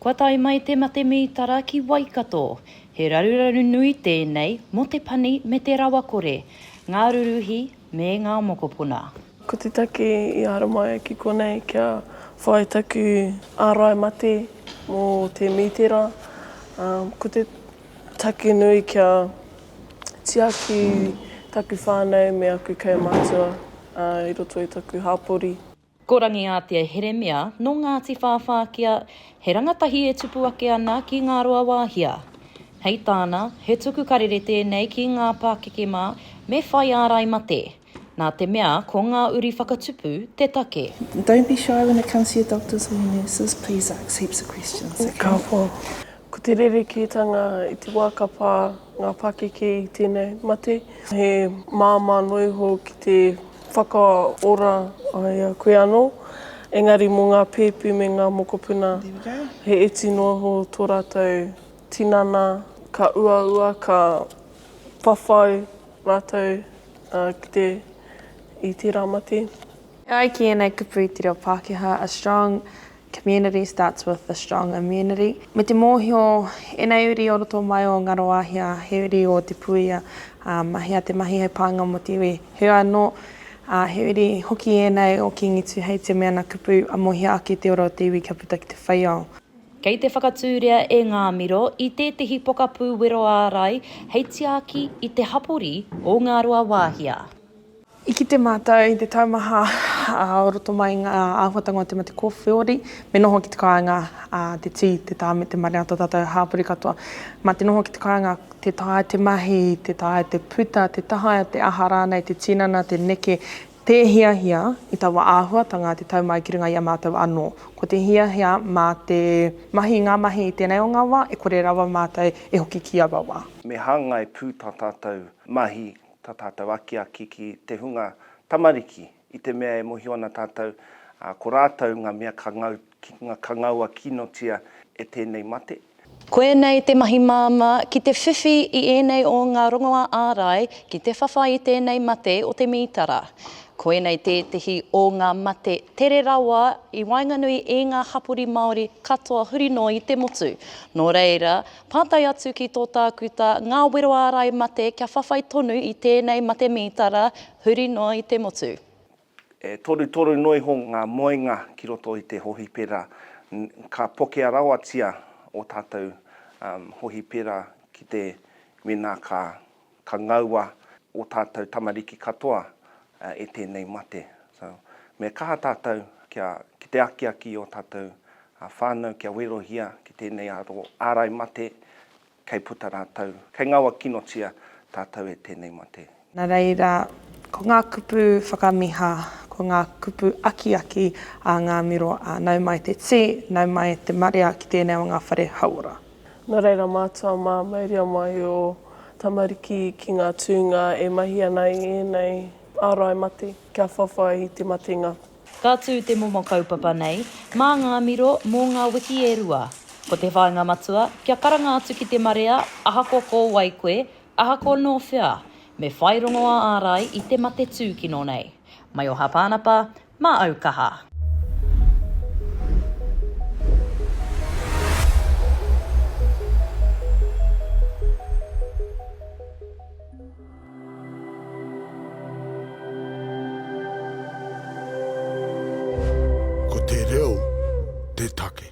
Kua tae mai te mate mītara ki Waikato. He raruraru nui tēnei mō te pani me te rawakore, ngā ruruhi me ngā mokopuna. Ko te take i haramai ki konei kia whai taku ārai mate mō te mītera, ko te take nui kia tiaki taku whānau me aku kaumātua i roto i taku hapori. Ko Rangiātea Heremia, nō Ngāti Whāwhākia, he rangatahi e tupu ake ana ki Ngāruawāhia. Hei tāna, he tuku karere tēnei ki ngā pākeke mā me whai ārai mate, nā te mea ko ngā uri whakatupu te take. Don't be shy when it comes to your doctors or your nurses, please ask heaps of questions, ok? Ka whā, ko te rerekētanga i te wā ka pā ngā pakeke i tēnei mate, he māmā noa iho ki te Whakaora ai a koe anō, engari mō ngā pēpi me ngā mokopuna, he iti noa iho tō rātou tinana, ka uaua, ka whawhai rātou ki te, i tērā mate. E ai ki ēnei kupu i te reo Pākehā, a strong Community starts with the strong immunity. Me te mōhio, ēnei uri o roto mai o Ngaroahia, he uri o Te Puia, ā, mahea te mahi hei pānga mō te iwi. Heoi anō, ā, he uri hoki ēnei o Kīngi Tūhei te mea na kupu amohia ake te ora o te iwi kia puta ki te wheiao. Kei te whakatūria e ngā miro i tētehi pokapū wero ārai hei tiaki i te hapori o Ngaroawaahia. I kite mātou i te taumaha o roto mai i ngā āhuatanga o te mate kōwhiori, me noho ki te kāinga te tī, te tā me te mare a tō tātou hāpori katoa. Mā te noho ki te kāinga, tē taea te mahi, tē taea te puta, tē taea te aha rānei, te tinana, te neke, tē hiahia i taua āhuatanga te tau mai ki runga i a mātou anō. Ko te hiahia mā te mahi i ngā mahi i tēnei o ngā wā e kore rawa mātou e hoki ki aua wā. Me hāngai pū tā tātou mahi tā tātou akiaki ki te hunga tamariki, i te mea e mōhio ana tātou ko rātou ngā mea ka ngau, ka ngaua kinotia e tēnei mate. Koinei te mahi māmā ki te whiwhi i ēnei o ngā rongoā ārai ki te whawhai i tēnei mate o te mītara. Koinei tētehi o ngā mate tere rawa i waenganui i ngā hapori Māori katoa huri noa i te motu, nō reira, Pātai atu ki tō Tākuta ngā wero ārai mate kia whawhai tonu i tēnei mate mītara huri noa i te motu. E torutoru noa iho ngā moenga ki roto i te hohipera, ka pokea rawatia ō tātou hohipera ki te wina ka Ka ngaua o tātou tamariki katoa e tēnei mate. So, me kaha tātou kia, ki te akiaki i ō tātou whānau kia werohia ki tēnei aro ārai mate kei puta rātou, kei ngaua kinotia tātou e tēnei mate. Nā reira, ko ngā kupu whakamiha, ko ngā kupu akiaki a ngā miro a nau mai te tī, nau mai te marea ki tēnei o ngā whare hauora. Nō reira mātua mā, mauria mai ō tamariki ki ngā tūnga e mahi ana i ēnei ārai mate, kia whawhai i te matenga. Ka tū te momo kaupapa nei, mā ngā miro, mō ngā wiki e rua. Ko te whāinga matua, kia karanga atu ki te marea, ahakoa ko wai koe, ahakoa nō whea, me whai rongo ā-ārai i te mate tūkino nei. Mai o Hāpānapa, Mā au kaha. Ko te reo te take.